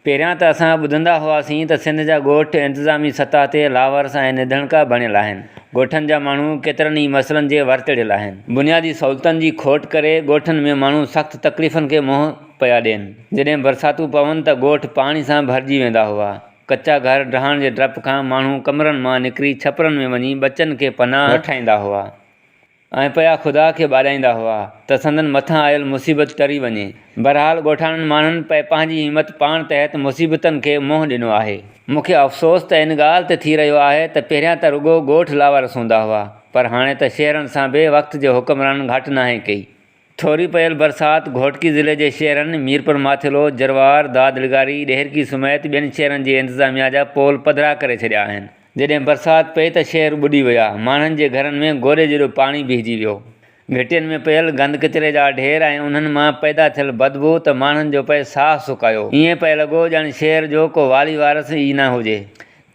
پهريان ته اسان ٻڌندا هئاسين ته سنڌ جا ڳوٺ انتظامي سطح تي لاوارث ۽ نڌڻڪا بڻيل آهن. ڳوٺن جا ماڻهو ڪيترن ئي مسئلن جي ورتڙيل آهن. بنيادي سهولتن جي کوٽ ڪري ڳوٺن ۾ ماڻهو سخت تڪليفن کي منهن پيا ڏين. جڏهن برساتون پون ته ڳوٺ پاڻي سان ڀرجي ويندا هئا. ڪچا گهر ڊهڻ جي ڊپ کان ماڻهو ڪمرن مان نڪري ڇپرن ۾ وڃي ٻچن کي پناهه وٺائيندا هئا. ۽ پيا خدا کي ٻاڏائيندا هئا ته سندن مٿان آيل مصيبت ٽري وڃي. بهرحال ڳوٺاڻن ماڻهن پئي پنهنجي همت پاڻ تحت مصيبتن کي منهن ڏنو آهي. مون کي افسوس ته ان ڳالهه تي ٿي رهيو آهي ته پهريان ته رڳو ڳوٺ لاوارث هوندا هئا پر هاڻي ته شهرن سان به وقت جي حڪمرانن گهاٽ ناهي ڪئي. ٿوري پيل برسات گهوٽڪي ضلعي جي شهرن ميرپور ماٿيلو، جروار، داد لغاري، ڏهرڪي سميت ٻين شهرن جي انتظاميا جا پول پڌرا ڪري ڇڏيا آهن. جڏهن برسات پئي ته شهر ٻڏي ويا، ماڻهن جي گهرن ۾ گوڏي جيڏو پاڻي بيهجي ويو. گهٽين ۾ پيل گند ڪچري جا ڍير ۽ انهن مان پيدا ٿيل بدبو ته ماڻهن جو پئي ساهه سڪايو. ائين پئي لڳو ڄڻ شهر جو ڪو والي وارث ئي نه هجي.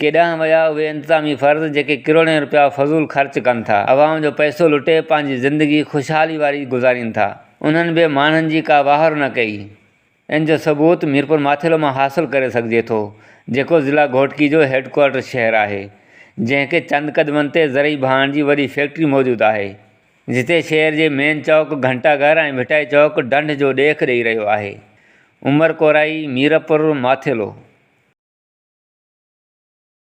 ڪيڏانهن ويا اهي انتظامي فرد جيڪي ڪروڙين رپيا فضول خرچ ڪن ٿا، عوام جو پئسو لٽي پنهنجي زندگي خوشحالي واري گذارين ٿا، انهن به ماڻهن جي ڪا واهر نه ڪئي، ان جو ثبوت ميرپورماٿيلو مان حاصل ڪري سگهجي ٿو، جيڪو ضلع گهوٽڪي جو هيڊڪوارٽر شهر آهي، جنهن کي چند قدمن تي زرعي ڀاڻ جي وڏي فيڪٽري موجود آهي، جتي شهر جي مين چوڪ، گهنٽا گهر ۽ ڀٽائي چوڪ ڍنڍ جو ڏيک ڏئي رهيو آهي. عمر ڪورائي، ميرپور، ماٿيلو.